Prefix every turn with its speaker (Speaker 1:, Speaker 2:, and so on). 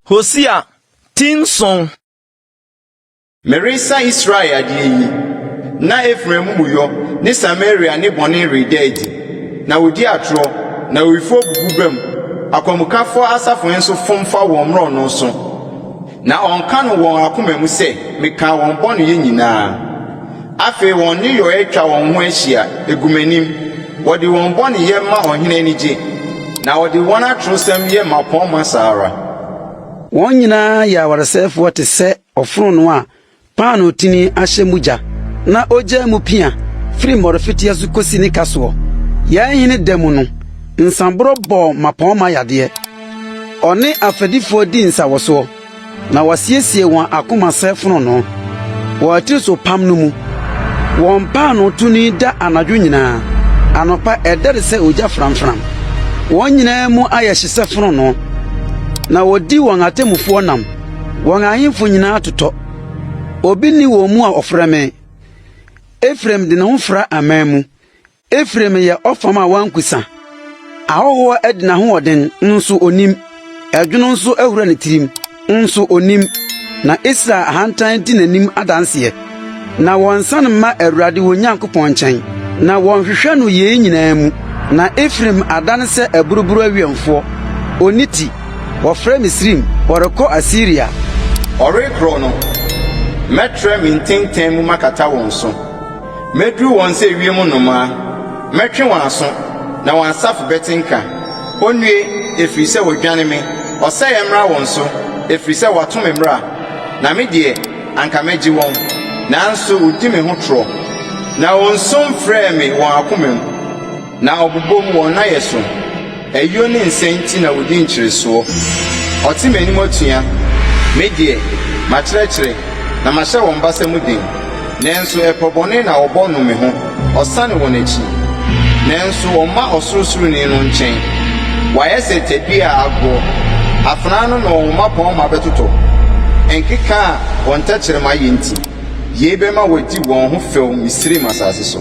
Speaker 1: Hosea ti nson.
Speaker 2: Meresa Israel adeɛ yi, na Efraim amumuyɔ ne Samaria ne bɔne reda adi, na wɔdi atorɔ, na awifoɔ bubu bam, akwamukafoɔ asafohene nso fom fa wɔn mmorɔno so. Na ɔnka no wɔn akoma mu sɛ, Mekaa wɔn bɔneyɛ nyinaa. Afei wɔn nneyɔeɛ twa wɔn ho ahyia, ɛgu m'anim. Wɔde wɔn bɔneyɛ ma ɔhene ani gye, na wɔde wɔn atorosɛm yɛ mmapɔmma saa ara. Wɔn
Speaker 3: nyinaa yɛ awaresɛefoɔ te sɛ ɔfononoo a Paanotini ahyɛ mu gya, na ogyaa mu pia firi mmɔrefeteɛ so kɔsi ne kasoɔ. Yɛn hene da mu no, nsãborɔ bɔɔ mmapɔmma yadeɛ. Ɔne afɛdifoɔ dii nsawɔsoɔ, na wɔasiesie wɔn akoma sɛ fononoo wɔ atirisopam no mu. Wɔn paanotoni da anadwo nyinaa, anɔpa ɛdɛre sɛ ogya framfram. Wɔn nyinaa mu ayɛ hye sɛ fononoo, na wɔdi wɔn atemmufoɔ nam. Wɔn ahemfo nyinaa totɔ, obi nni wɔn mu a ɔfrɛ me. Efraim de ne ho fra aman mu, Efraim yɛ ɔfam a wankusa. Ahɔhoɔ adi n'ahoɔden, nso onim, ɛdwono nso ahura ne tirim, nso onim, na Israel ahantan di n'anim adanseɛ. Na wɔnsan mma Awurade wɔn Nyankopɔn nkyɛn, na wɔnhwehwɛ no yei nyinaa mu. Na Efraim adane sɛ aburuburo awiɛmfoɔ, ɔnni ti, wɔfrɛ Misraim, wɔrekɔ Asiria. Wɔrekorɔ
Speaker 2: no, mɛtrɛ me ntenten mu makata wɔn so, mɛduru wɔn sɛ ewiem nnomaa, mɛtwe wɔn aso, na wɔn asafo bɛte nka. Ɔnnue, ɛfiri sɛ wɔadwane me, ɔsɛeɛ mmra wɔn so, ɛfiri sɛ wɔato me mmara, na me deɛ, Anka megye wɔn, nanso wodi me ho torɔ, Na wɔnsu mfrɛɛ me wɔn akomam, Na wɔbobom wɔn nnayɛ so. Ayuo ne nsɛe nti na wɔdi nkyeresoɔ, Wɔte m'anim atua. Me deɛ, makyerɛkyerɛ, na mahyɛ wɔn basa mu den, Nanso ɛpɔ bɔne na wɔbɔ no me ho. Ɔsane wɔn akyi, nanso wɔmma Ɔsorosoroni no nkyɛn. Wɔayɛ sɛ tadua a agoɔ, afenaa no na wɔn mmapɔmma bɛtotɔ, nkeka a wɔn tɛkyerɛma yɛ nti. Yei bɛma wɔadi wɔn ho fɛw Misraim asase so.